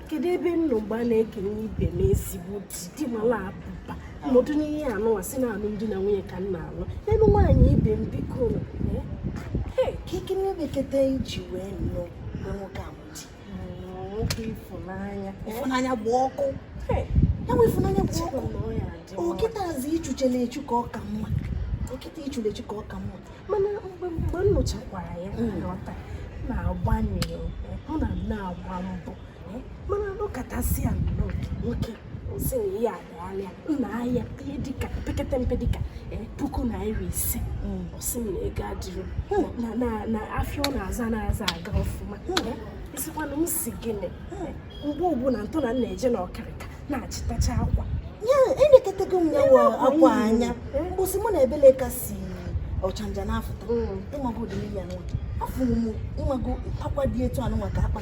kedu ebe m nọ mgbe a na-ekenye ibe m ezigbo di di mala abụba m nọdụ n'ihe anụwa sị na alụmdi na nwunye ka m na-alụ elu nwaanyị ibe m biko ka ekene beketa iji wee nụ nwoke ahụ ịfụnanya gba ọkụ ya bụ ịfụnanya gba ọkụ ọ kịtazị i cheche na echi ka ọ ka mma ọ kịta i che na echi ka ọ ka mma mana mgbe mgbe m nụchakwara ya m ghọta na-agbanye hụ na m na-agba mbọ mana nụkatasị ya nnọọ nwoke sị na ya ọlịa nna ahịa ihe dịka pekete mpe dịka e, puku naira ise hmm. ọ sị m na ego adịrọ hmm. na afịa ọ na-azụ anazị aga ọfụma hmm. asịkwana m sị gịnị mgbe ọbụla ntọ na na-eje na okrika na-achịtacha akwa ya elekọtago m ya akwa anya mgbụsị mụ na ebele ka si ọchanja na-afụta ịmago ụdị ya nwa afụrụ m ịmago akwa dị etu anụwa ka akpa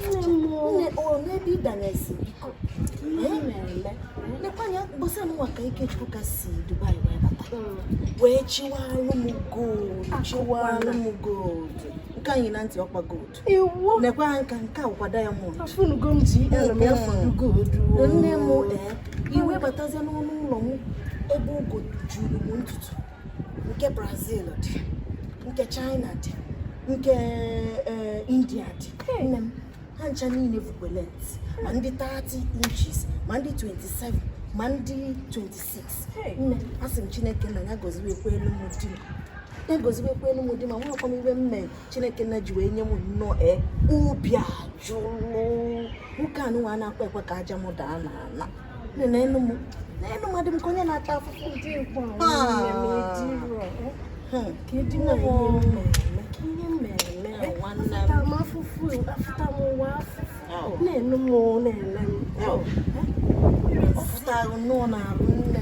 n'ebe ịdanyesi biko wee chịwalụ m gold chịwalụ m gold nke e yi na ntị ọ kwa gold nke e yi aka nke a kwa diamond nne m ee i wee batazie n'ọnụ ụlọ m ebe wig juru m ntutu nke brazil dị nke china dị nke eh, india dị nne m ha ncha niile bụkwa length ma ndị 30 inches ma ndị 27 ma ndị 26 nne asị m chineke nna ya goziwekwuelụ m di m ya goziwekwuelụ m di amarọkwa m ife m mee chineke nna ji wee nye m nnọọ e obi ajụlụ nwoke anụnwa anakwa ekwe ka aja m daa n'ala neenụ m neenụ ma adị m ka onye na-ata afụfụ ụdị ịgba afụfụ afụta m ụwa afụfụ neenụ m nee m ọ fụtara nnọọ n'arụ nne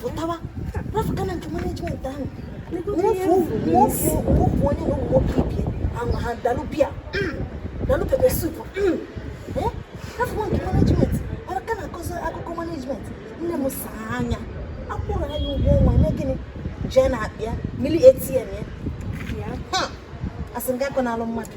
pụtawa rafụka na nke management ahụ nwofu onye na ụmụ nwoke ibe ya ahụ ha dalụ beer dalụ pepper soup rafụwa nke management mana ka na-akọzi akụkọ management nne m saa anya akwụrọ anyị ụgwọ ọnwa eme gịnị jee na-apịa mili atm ya asị m gakọ n'alụ mmadụ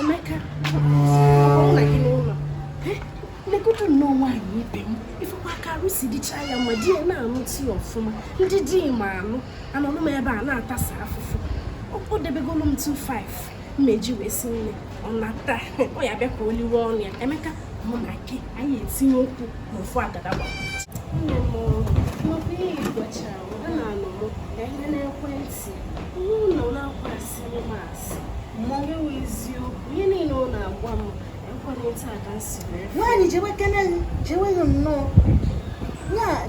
Emeka, ọ na gị n'ụlọ. Negodu nnọọ nwaanyị ibe m. Ị fụkwa ka arụ si dịcha ya mma di ya na-anụta ya ọfụma. Ndị di ma anụ, anọnụ m ebe a na-atasa afụfụ. Ọ debegolu m 2-5 m eji wee si nni ọ nata ọ ya-abịa ka o liwe ọnụ ya Emeka mụ na gị anyị etinye ụkwụ n'ofu agada gbara nne m nnukwu ihe igwechara m ha na-anọ m na ihe n'ekwentị ụlọ na-akwasị m nwaanyị jewe kene jewe ya nnọọ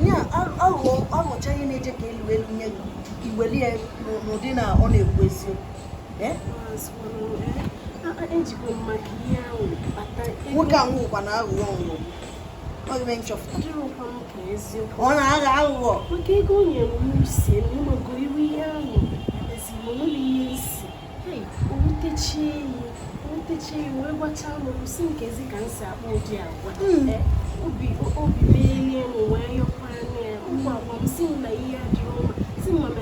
ya aghụghọ ọ nụcha ihe na-eje ka elu elu nye gị i welu ya n'ụdị na ọ na-ekwu eziokwu eh? nwoke a nwụkwa n'aghụghọ nwụrụ ọ na-agha aghụghọ maka ego o nyere m si ịmago iru ihe ahụ ezinụlọ na ihe nsi owutechie enyi owutechie enyi wee gwachaa m sị kezi ka m si akpa ụdị agwa hmm. eh, obi obi mee n'elu wee yọkwara n'elu ụmụ agwa m si m na ihe adịrị mma si mma na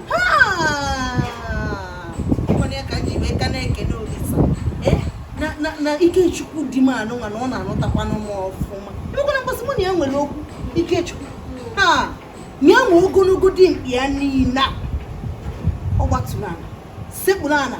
na ikechukwu di m anụnwa na ọ na-anụtakwanụ m ọfụma emekwana mgbe a sị mụ na ya nwere okwu ikechukwu ha nye m ogologo dimkpa ya niile ọ gbatụrụ ala sekpụrụ ala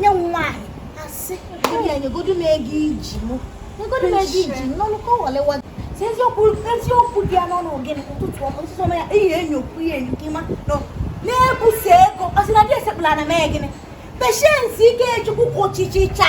nye nwaanyị asị ya nyegodu m ego i ji mụ nyegodu m ego i ji n'ọnụ ka ọ walewa si eziokwu eziokwu dị ya n'ọnụ gịnị ụtụtụ ọma ụtụtụ ọma ya iyi enyokwu ya enyo gị ma ọ na-ebusa ego ọ sị na di sekpulu ana mee gịnị Patience ikechukwu kwụchichicha